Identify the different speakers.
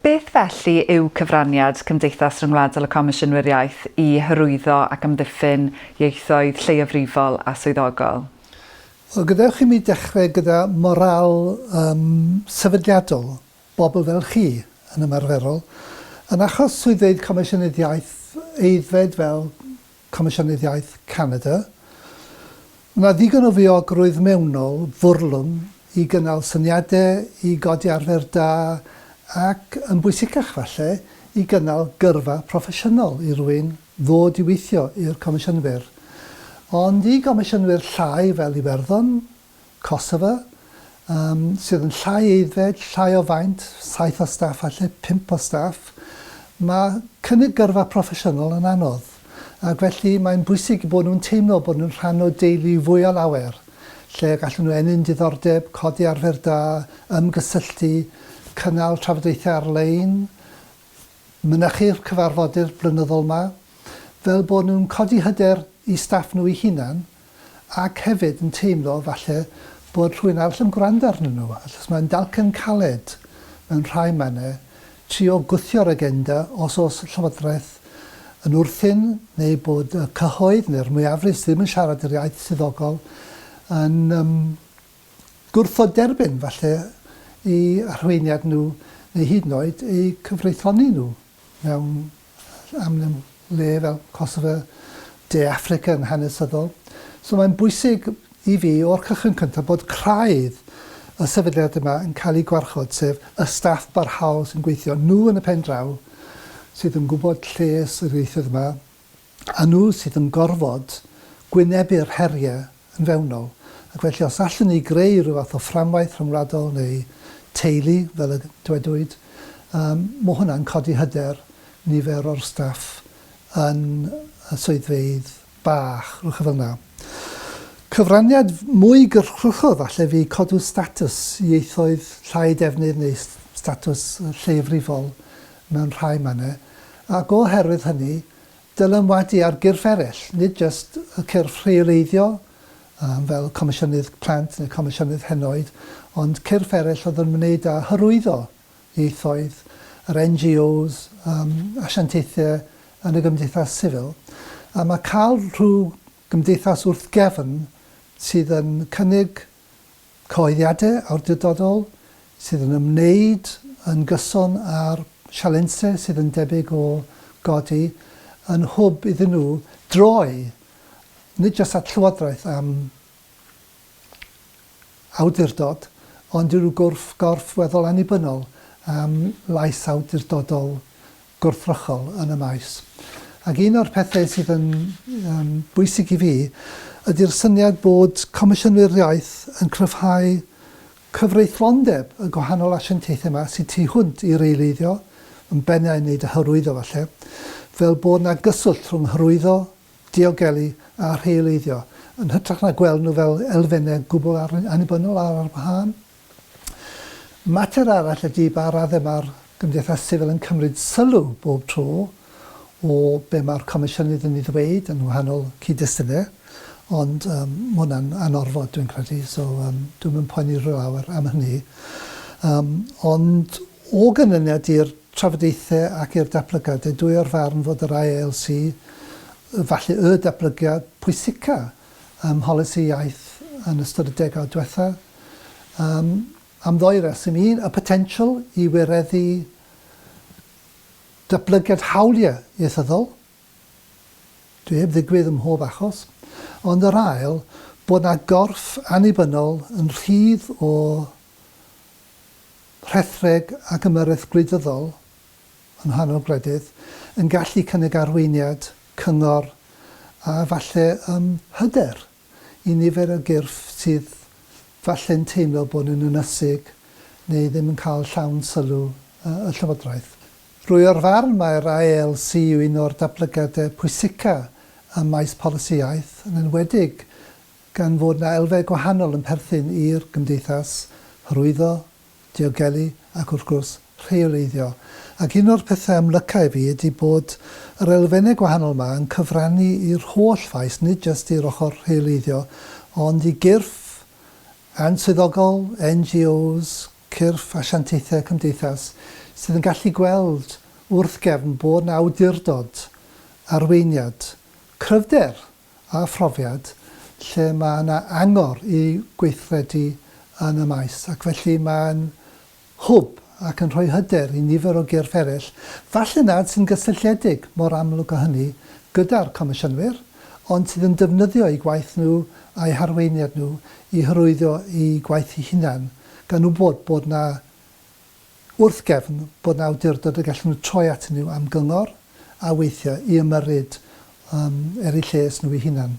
Speaker 1: Beth felly yw cyfraniad Cymdeithas Ryngwladol y Comisiynwyr Iaith i hyrwyddo ac amddiffyn ieithoedd lleiafrifol a swyddogol? Wel, gadewch i mi dechrau gyda morâl um, sefydliadol bobl fel chi, yn ymarferol. Yn achos swyddfeydd Comisiynydd Iaith, aeddfed fel Comisiynydd Iaith Canada, mae yna ddigon o fiogrwydd mewnol fwrlwm i gynnal syniadau, i godi arfer da ac, yn bwysicach falle, i gynnal gyrfa proffesiynol i rywun ddod i weithio i'r Comisiynwyr. Ond i gomisiynwyr llai fel Iwerddon, Kosovo, yym, sydd yn llai aeddfed, llai o faint, saith o staff falle, pump o staff, ma' cynnig gyrfa proffesiynol yn anodd, ac felly mae'n bwysig eu bod nhw'n teimlo bod nhw'n rhan o deulu fwy o lawer, lle y gallen nhw ennyn diddordeb, codi arfer da, ymgysylltu, cynnal trafodaethau ar-lein, mynychu'r cyfarfodydd blynyddol 'ma, fel bod nhw'n codi hyder i staff nhw eu hunan, ac hefyd yn teimlo falle bod rhywun arall yn gwrando arnyn nhw, achos mae'n dalcen caled mewn rhai mannau trio gwthio'r agenda os oes llywodraeth yn wrthyn neu bod y cyhoedd neu'r mwyafrif sydd ddim yn siarad yr iaith swyddogol yn um, gwrthod derbyn falle i arweiniad nhw neu hyd yn oed eu cyfreithloni nhw. mewn amlwg le fel Kosovo, De Affrica yn hanesyddol. So mae'n bwysig i fi o'r cychwyn cyntaf bod craidd y sefydliad yma yn cael ei gwarchod, sef y staff barhaol sy'n gweithio, nhw yn y pen draw sydd yn gwybod lles yr ieithoedd yma, a nhw sydd yn gorfod gwynebu'r heriau yn fewnol, ac felly os allwn ni greu rhyw fath o fframwaith rhyngwladol neu teulu, fel y dywedwyd, yym, mae hwnna'n codi hyder nifer o'r staff yn y swyddfeydd bach, rhywbeth fel yna. Cyfraniad mwy gyrchruchol falle fu codw statws ieithoedd llai defnydd neu statws lleiafrifol mewn rhai mannau, ac o herwydd hynny, dylanwadu ar gyrff eraill, nid jyst y cyrff rheoleiddiol, yym, fel Comisiynydd Plant neu Comisiynydd Henoed, ond cyrff eraill oedd yn ymwneud â hyrwyddo ieithoedd, yr NGOs, yym, asiantaethau yn y gymdeithas sifil. A mae cael rhyw gymdeithas wrth gefn sydd yn cynnig cyhoeddiadau awdurdodol sydd yn ymwneud yn gyson â'r sialensau sydd yn debyg o godi yn hwb iddyn nhw droi nid jyst at Llywodraeth am awdurdod, ond i ryw gorff weddol annibynnol am lais awdurdodol gwrthrychol yn y maes. Ac un o'r pethau sydd yn um, bwysig i fi ydy'r syniad bod Comisiynwyr Iaith yn cryfhau cyfreithlondeb y gwahanol asiantaethau yma sydd tu hwnt i reoleiddio, yn bennau yn wneud y hyrwyddo falle, fel bod yna gyswllt rhwng hyrwyddo, diogelu a rheoleiddio, yn hytrach na gweld nhw fel elfennau gwbl annibynnol ar ar wahân. Mater arall ydy ba raddau mae'r gymdeithas sifil yn cymryd sylw bob tro o be mae'r Comisiynydd yn ei ddweud yn wahanol cyd-destunau, ond um, mae hwnna'n anorfod dwi'n credu, so um, dwi'm yn poeni rhyw lawer am hynny. Um, ond o ganlyniad i'r trafodaethau ac i'r datblygiadau, dwi o'r farn fod yr ILC, falle y datblygiad pwysica ym mholisi iaith yn ystod y degawd diwethaf, yym, am ddou reswm. Un, y potensial i wireddu datblygiad hawliau ieithyddol, dwi heb ddigwydd ym mhob achos, ond yr ail, bod 'na gorff annibynnol yn rhydd o rhethreg ac ymyrraeth gwleidyddol yn nghanol gwledydd, yn gallu cynnig arweiniad, cyngor a falle yym hyder i nifer o gyrff sydd falle'n teimlo bod yn ynysig neu ddim yn cael llawn sylw y Llywodraeth. Rwy o'r farn mai'r AELC yw un o'r datblygiadau pwysica ym maes polisi iaith, yn enwedig gan fod 'na elfau gwahanol yn perthyn i'r gymdeithas, hyrwyddo, diogelu ac wrth gwrs rheoleiddio. Ac un o'r pethau amlyca i fi ydi bod yr elfennau gwahanol 'ma yn cyfrannu i'r holl faes, nid jyst i'r ochr rheoleiddio, ond i gyrff answyddogol, NGOs, cyrff asiantaethau cymdeithas, sydd yn gallu gweld wrth gefn bod 'na awdurdod, arweiniad, cryfder! a phrofiad lle mae yna angor i weithredu yn y maes ac felly mae'n hwb ac yn rhoi hyder i nifer o gyrff eraill, falle nad sy'n gysylltiedig mor amlwg â hynny gyda'r Comisiynwyr, ond sydd yn defnyddio eu gwaith nhw a'u harweiniad nhw i hyrwyddo eu gwaith eu hunain, gan wybod bod 'na wrth gefn bod 'na awdurdod y gallen nhw troi atyn nhw am gyngor a weithio i ymyrryd er eu lles nhw eu hunain.